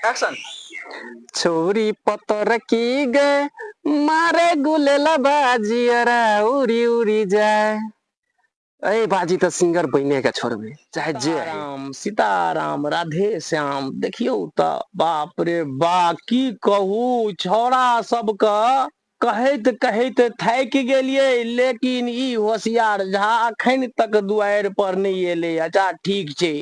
Action छोरी पतर की गए मारे गुलेला बाजी अरा उरी उरी जाए अरे बाजी तो सिंगर बने के छोड़बे चाहे जे राम सीताराम राधे श्याम देखियो तो बाप रे बा की कहू छोरा सबके कहैत कहैत थाकि गेलिए लेकिन ई होशियार झा अखन तक दुआर पर नहीं एले अच्छा ठीक छै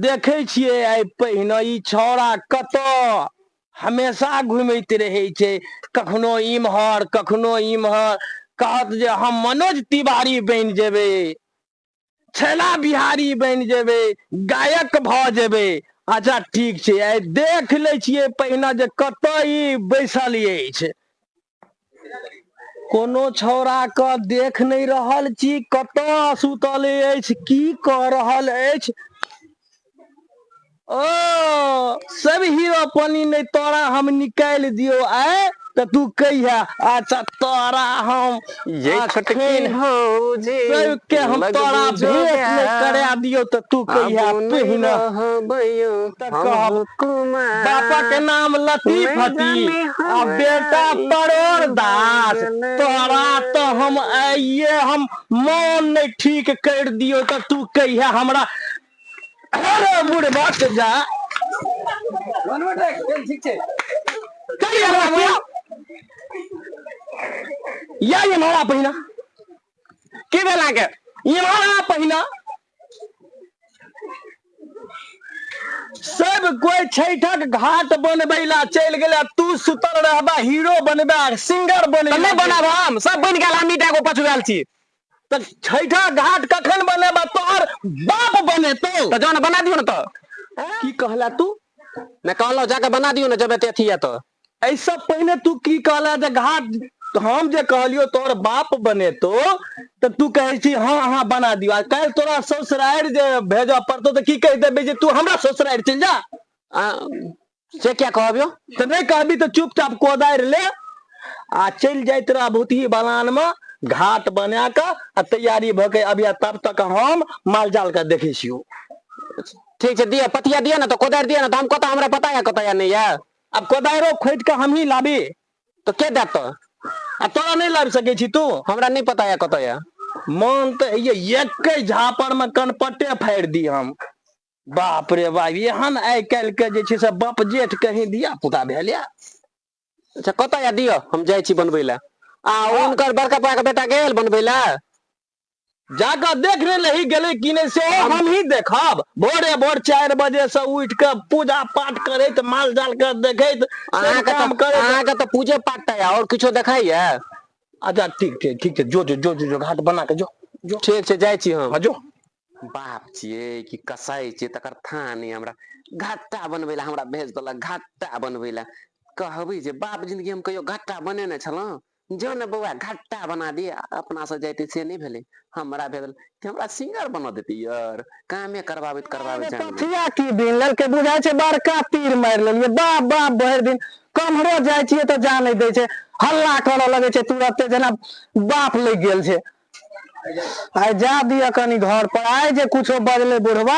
देखै छियै आइ पहिने ई छौड़ा कतऽ हमेशा घुमैत रहै छै कखनो इम्हर कखनो इम्हर कहत जे हम मनोज तिवारी बनि जेबै छैला बिहारी बनि जेबै गायक भऽ जेबै अच्छा ठीक छै आइ देख लै छियै पहिने जे कतय ई बैसल अछि कोनो छौड़ा के देख नहि रहल छी कतय सुतल अछि की कऽ रहल अछि ओ सब हीरो पानी नहि तोरा हम निकालि दियौ आय तऽ तू कहिया अच्छा तोरा हम ये छोटकी भौजी सबके हम तोरा भेंट नहि करा दियौ तऽ तू कहिया पहिना कहब पापा के नाम लतीफ हती आ बेटा परोर दास तोरा तो हम आइये हम मान नहि ठीक कर दियो तऽ तू कहिया हमरा अरे बूढ़ बात से जा मनोट है चल ठीक है चल यार राखिया या ये मारा पहिना के बेला के ये मारा पहिना सब कोई छैठक घाट बनबैला चल गेला तू सुतल रहबा हीरो बनबा सिंगर बनबा नहीं बनाब हम सब बन गेल हम ईटा को पछुआल छी तऽ छैठा घाट कखन बनेबा तोहर बाप बनेतौ तऽ जान बना दियौ ने तऽ की कहला तू नहि कहलहुँ जाके बना दियौ ने जब एते अथी यऽ तऽ ऐसा पहले तू की कहला जे घाट हम जे कहलियो तोहर बाप बनेतो तऽ तू कहै छी हाँ अहाँ बना दियो आ काल्हि तोरा ससुरारि जे भेजऽ पड़तो तऽ की कहि देबे जे तू हमरा ससुरारि चलि जा आ, से क्या कहबियो तऽ नहि कहबी तऽ चुपचाप कोदारि ले आ चलि जाइत रह भूतही बलान मे घाट बना कऽ आ तैयारी भऽ के अबिया तब तक हम मालजाल के देखै छियौ ठीक छै दिअ पतिया दिअ ने तऽ कोदारि दिअ ने तऽ हम कतऽ हमरा पता यऽ कतऽ यऽ नहि यऽ आब कोदारिओ खोदि कऽ हमही लाबी तऽ के देत तऽ आ तोरा नहि लाबि सकै छी तू हमरा नहि पता यऽ कतऽ यऽ मोन तऽ होइए एकै झापर मे कनपट्टे फाड़ि दी हम बाप रे बाप एहन आइ काल्हि के जे छै से बाप जेठ कहीं धिया पुता भेल या अच्छा कतऽ या दिअ हम जाइ छी बनबै लए आ हुनकर बड़का पाके बेटा गेल बनबै लए जाकऽ देख ले रही गेलै कि नहि से हमही देखब भोरे भोर चारि बजे से उठ के पूजा पाठ करैत माल जाल के देखैत सब अहाँके काम तऽ करैत अहाँके तऽ पूजे पाठ टा यऽ आओर किछो देखाइए अच्छा ठीक छै ठीक छै जो जो जो जो, जो घाट बना के जो जो ठीक छै जाइ छी हम हाँ, जो बाप छियै कि कसाइ छियै तकर थाह नहि हमरा घट्टा बनबै लए हमरा भेज देलक घट्टा बनबै लए कहबै जे बाप जिनगी हम कहियो घट्टा बनेने छलहुँ जो ने बौआ घट्टा बना दिय अपना से जाइते से नहि भेलै हमरा भेल हमरा सिंगर बना देते यार कामे करबाबैत करबाबैत जान गेल कथिया की बीन लेलकै बुझाइ छै बड़का तीर मारि लेलियै बाप बाप भरि दिन कम्हरो जाइ छियै तऽ जा नहि दै छै हल्ला करऽ लगै छै तुरते जेना बाप लागि गेल छै आइ जा दिअ कनि घर पर आइ जे कुछो बजले बुढ़वा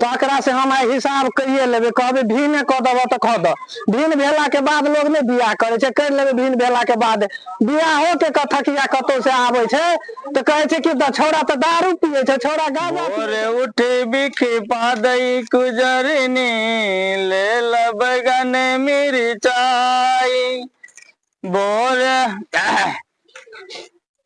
तऽ एकरा से हम आइ हिसाब कहिए लेबै कहबै भिने कऽ देबह तऽ कऽ दऽ भिन भेला के बाद लोग नहि बियाह करै छै करि लेबै भिन भेला के बाद बियाहो के कथकिया कतौ से आबै छै तऽ कहै छै कि द- छौड़ा तऽ दारू पियै छै छौड़ा गाँजा पियै भोरे उठी बिखी पादई कुजरनी ले लगन मिरचाई भोरे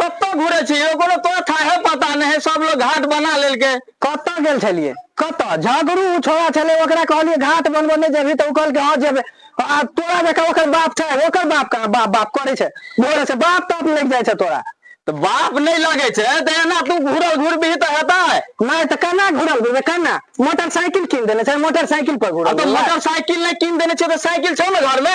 कतऽ घुरे छी एगो ने तोरा थाहे पता नहीं है सब लोग घाट बना लेल के कतऽ गेल छलिए कतऽ झगड़ू छोड़ा छले ओकरा कहलिए घाट बनबो नहीं जेबी तो कहल के हां जेबे आ तोरा देखा ओकर बाप छै ओकर बाप का बाप बाप करे छै बोले से बाप तप लग जाय छै तोरा तो बाप नहीं लगे छे तो एना तू घुरल घुर भी तो हेता है नहीं तो कना घुरल भी कना मोटरसाइकिल किन देने छै मोटरसाइकिल पर घुरल तो मोटरसाइकिल नहीं किन देने छै तो साइकिल छे ना घर में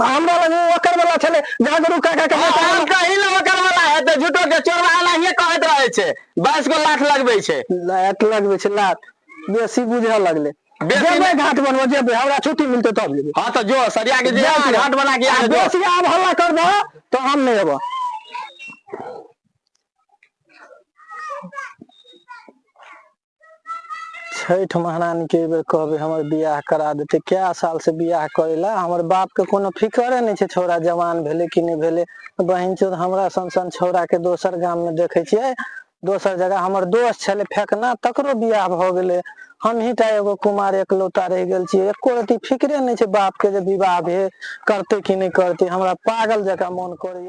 हमरा लग ओ ओकर वाला छले जहाँ गुरु काका के बेटा हम कहीं ना ओकर वाला है तो झूठो के चोरवा एनाहिए कहत रहे छे बाईस गो लाख लगबे छे लात लगबे छे लात बेसी बुझे लगले बेसी जेबे नहि। घाट बनबो जेबे हमरा छुट्टी मिलते तब जेबे हाँ तो जो सरिया के जे बेसी- घाट बना के आ यहाँ जो बेसी आब हल्ला कर दो तो हम नहीं एबो छठि महारानी के बेर कहबे हमर बियाह करा देते क्या साल से बियाह करेला हमर बाप के कोनो फिकरे नहीं छे छोरा जवान भेले कि नहीं भेले बहन चोद हमरा सन सन छोरा के दोसर गाम में देखे छे दोसर जगह हमर दोस्त छे फेकना तकरो बियाह भ गेले हम ही टा एगो कुमार एकलौता रह गए छे एको रति फिक्रे नहीं छे बाप के जे विवाह भे करते कि नहीं करते हमरा पागल जका मन करे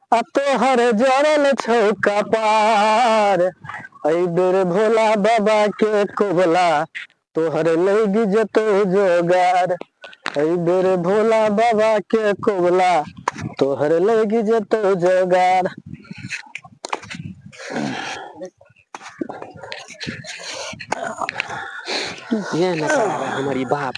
आ तोहर जड़ल छौ कपार एहि बेर भोला बाबा के कोबला तोहर लैग जेतौ जोगार एहि बेर भोला बाबा के कोबला तोहर लैग जेतौ जोगार ये ना हमर ई बाप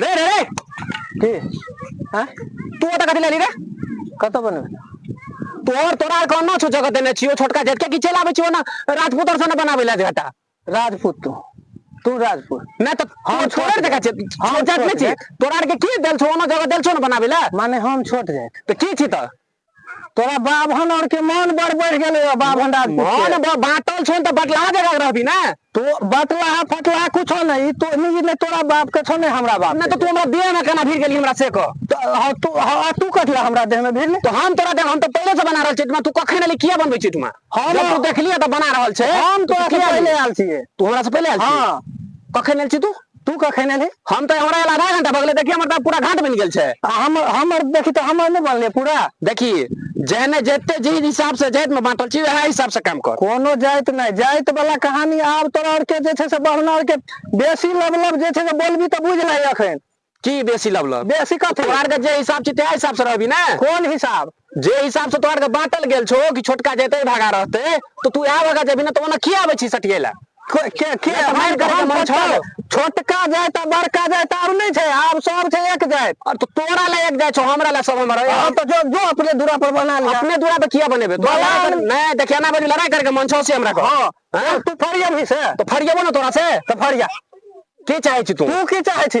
रे रे रे की आँय तू ओतऽ कथी लेली रे कतऽ बनबै तोहर तोरा आर कहना छौ जगह देने छियो छोटका जेठ के की चलि आबै छियो ना राजपूत आर सने बनाबै लए जगह राजपूत तू तू राजपूत नहि तऽ हम हम छोड़ छोड़ देखा छै जाएत। हम हम जात छोड़ नहि छी जाएत। तोरा आर के की देल छौ ओना जगह देल छौ ने बनाबै लए माने हम छोट जाइत तऽ की छी तऽ तोरा बाभन और के मान बड़ बढ़ गेले हो बाभन राजपूत मान के। ब- बाटल छो तऽ बटला जगह रहबी ने तो बटला फटला कुछो नहीं तो नहीं ने तोरा बाप के छो ने हमरा बाप नहि के। तऽ तू हमरा देह में केना भिड़ गेली हमरा से कह तो हाँ, तू हाँ, तू कटला हमरा देह में भिड़ ले तो हम तोरा देह हम तऽ पहिले से बना रहल छियै तू कखन एली किया बनबै छियै तुमा हम- जब तू देखलियै तऽ बना रहल छै हम तू तोरा से किया पहिले एली? आयल छियै तू हमरा से पहिले आयल छी हाँ कखन आयल छी तू तू कखन एलही हम तऽ हमरा आधा घंटा भगले देखी हमर तऽ पूरा घाट बनि गेल छै हम हमर देखी तऽ हमर नहि बनले पूरा देखी जहने जते जे हिसाब से जाइत में बांटल छी वएह हिसाब से काम कर कोनो जाइत नहीं जाइत वाला कहानी आब तोरा और के जे छै से बढ़ना और के बेसी लब लब जे छै से बोलबी तऽ बुझ लही अखन की बेसी लब लब बेसी कथी तोरा के जे हिसाब छी ते हिसाब से रहबी ना कोन हिसाब जे हिसाब से तोहर के बांटल गेल छो कि छोटका जेते भागा रहते तो तू यहाँ भागा जेबी ना तो ओना किया आबे छी सटियला के के- के या तऽ मारि मारि कऽ कऽ हम मन छौ? छोटका- छोटका जाइत आ बड़का जाइत आब नहि छै आब सब छै एक जाइत और तो तोरा ला एक जाय छो हमरा ला सब हमर है। अब तो जो जो अपने दूरा पर बना लिया अपने दूरा पे किया बनेबे तो बना लड़ाई कर- ले। नहीं देखिया ना बनी लड़ाई करके मन छो से हमरा को हाँ हाँ? तू फरिया भी से तो फरियबो ना तोरा से तो फरिया की चाहे छी तू तू की चाहे छी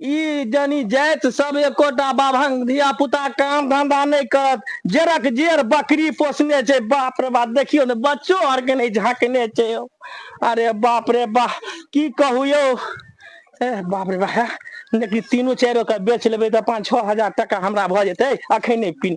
ई जनि जाइत सब एकोटा बाभन धिया पुता काम धंधा नहि करत जेरक जेर बकरी पोसने छै बाप रे बाप देखियौ ने बच्चो आर के नहि झाँकने छै यौ अरे बाप रे बाप की कहू यौ ए बाप रे बाप लेकिन तीनू चारिो के बेच लेबै तऽ पाँच छओ हजार टाका हमरा भऽ जेतै अखन नहि पी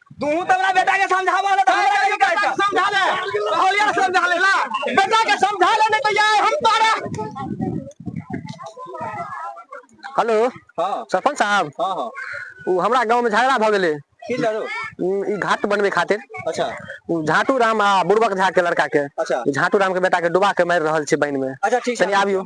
तू तो अपना बेटा के समझावा ले तो हमरा के कहै छै समझा ले कहलिया समझा ले ला बेटा के समझा ले नहीं तो यार हम तोरा हेलो हां सरपंच साहब हां हां उ हमरा गांव में झगड़ा भ गेले की लड़ो ई घाट बनवे खातिर अच्छा उ झाटू राम आ बुरबक झा के लड़का के अच्छा झाटू राम के बेटा के डुबा के मार रहल छै बहन में अच्छा ठीक छै आबियो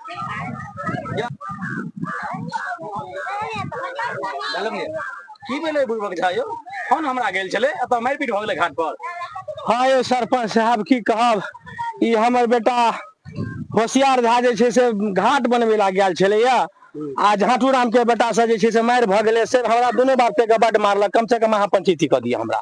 की भेलै बुढ़बक झा यौ फोन हमरा गेल छलै एतऽ मारिपीट भऽ गेलै घाट पर हाँ यौ सरपंच साहब की कहब ई हमर बेटा होशियार झा जे छै से घाट बनबै ला गेल छलैया आ झाँटू राम के बेटा से जे छै से मारि भऽ गेलै से हमरा दुनू बाप के बड मारलक कम से कम अहाँ पंचैती कऽ दिअ हमरा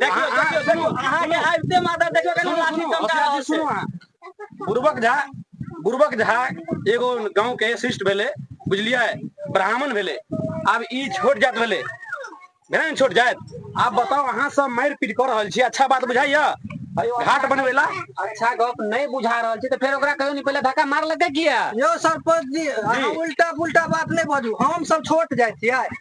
देखियौ अहाँ देखियौ सुनू देखियौ अहाँके सुनू आबिते माथा देखियौ केना सुनू लाठी सुनू चमका अखिलेश जी रहल छै सुनू अहाँ बुर्बक झा बुर्बक झा एगो गाँंव के शिष्ट भेलै बुझलियै ब्राह्मण भेलै आब ई छोट जात भेलै भेलै ने छोट जात आब बताउ अहाँ सब मारि पीट कऽ रहल छी अच्छा बात बुझाइया घाट बनबै ला अच्छा गप नहीं बुझा रहल छी तो फिर ओकरा कहियो नहीं पहले धक्का मारलकै किया यौ सरपंच जी अहाँ जी। उल्टा पुल्टा बात नहि बाजू हम सब छोट जाइ छियै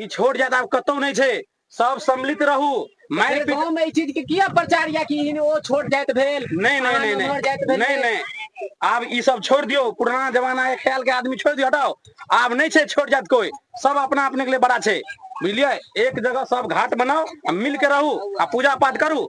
ई छोट जात आब कतौ नहि छै सब सम्मिलित रहू मारि अरे पीट गाँव में ई चीज के किया प्रचार या कि इन ओ छोट जात भेल नहीं नहीं नहीं अहाँ नमहर जात नहीं भेल नहीं नहीं आब ई सब छोड़ दियो पुराना जमाना के ख्याल के आदमी छोड़ दियो हटाओ आब नहीं छै छोड़ जात कोई सब अपना अपने के लिए बड़ा छै बुझलिए एक जगह सब घाट बनाओ आ मिल के रहू आ पूजा पाठ करू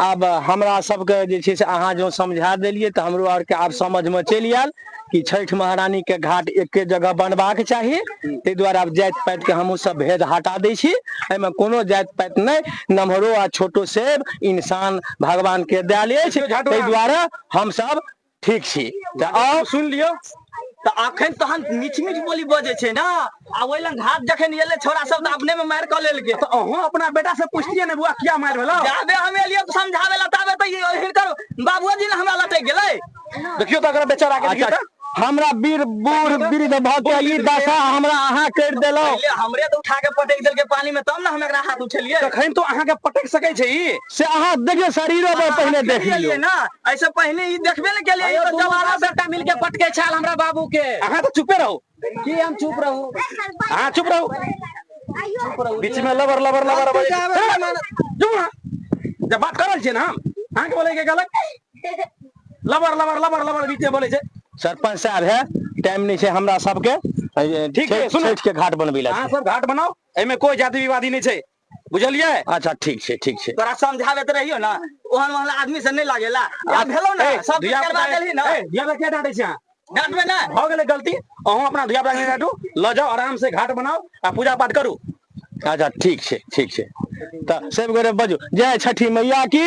आब हमरा सबके जे छै से अहाँ जँ समझा देलियै तऽ हमरो आरके आब समझमे चलि आयल कि छठि महारानी के घाट एके जगह बनबाक चाही ताहि दुआरे आब जाति पाति के हमहूँ सब भेद हटा दै छी एहिमे कोनो जाति पाति नहि नमहरो आ छोटो से इंसान भगवान के दयल अछि ताहि दुआरे हमसब ठीक छी तऽ आउ सुनि लियौ तऽ अखन तहन मीठ मीठ बोली बजे छै ने आ ओहि लग घाट जखन एले छोरा सब तऽ अपने में मारि कऽ लेलकै तऽ अहूँ अपना बेटा से पूछतियै ने बुआ किया मारि भेलो जाबे हम एलियै समझाबे ला ताबे तऽ हिनकर बाबूजी ने हमरा लटक गेलै देखियो तऽ अगर बेचारा के देखियो तऽ हमरा वीर बूढ़ वृद्ध भऽ के ई दशा हमरा अहाँ कर देलहुँ हमरे तऽ उठा के पटक देलकै पानी में तब ने हम एकरा हाथ उठेलियै तखन तो अहाँ के पटक सकै छै ई से अहाँ देखियौ शरीरो पर पहिने देख लियौ ना ऐसे पहिने ई देखबे ने केलिए ई तो जवाना बेटा मिल के पटके छाल हमरा बाबू के अहाँ तो चुपे रहू की हम चुप रहू अहाँ चुप रहू बीच में लबर लबर लबर लबर चुप ना जब बात करल छी ना हम अहाँ के बोले के गलत लबर लबर लबर लबर बीच में बोले छै सरपंच साहब है टाइम नहीं छै हमरा सबके ठीक है सुनो के घाट बनबी ला अहाँ सब घाट बनाओ एमे कोई जाति विवादी नहीं छै बुझलियै अच्छा ठीक छै ठीक छै तोरा समझाबैत रहियो ने ओहन ओहन आदमी से नहि लागेला आ भेलो ने सब धिया करवा देलही ने धिया पुता के डाटे छै डांटबे ने भऽ गेलै गलती अहूँ अपना धिया पुता के डाटू लऽ जाउ आराम से घाट बनाउ आ पूजा पाठ करू अच्छा ठीक छै ठीक छै तऽ सब गोरे बजू जय छठी मैया की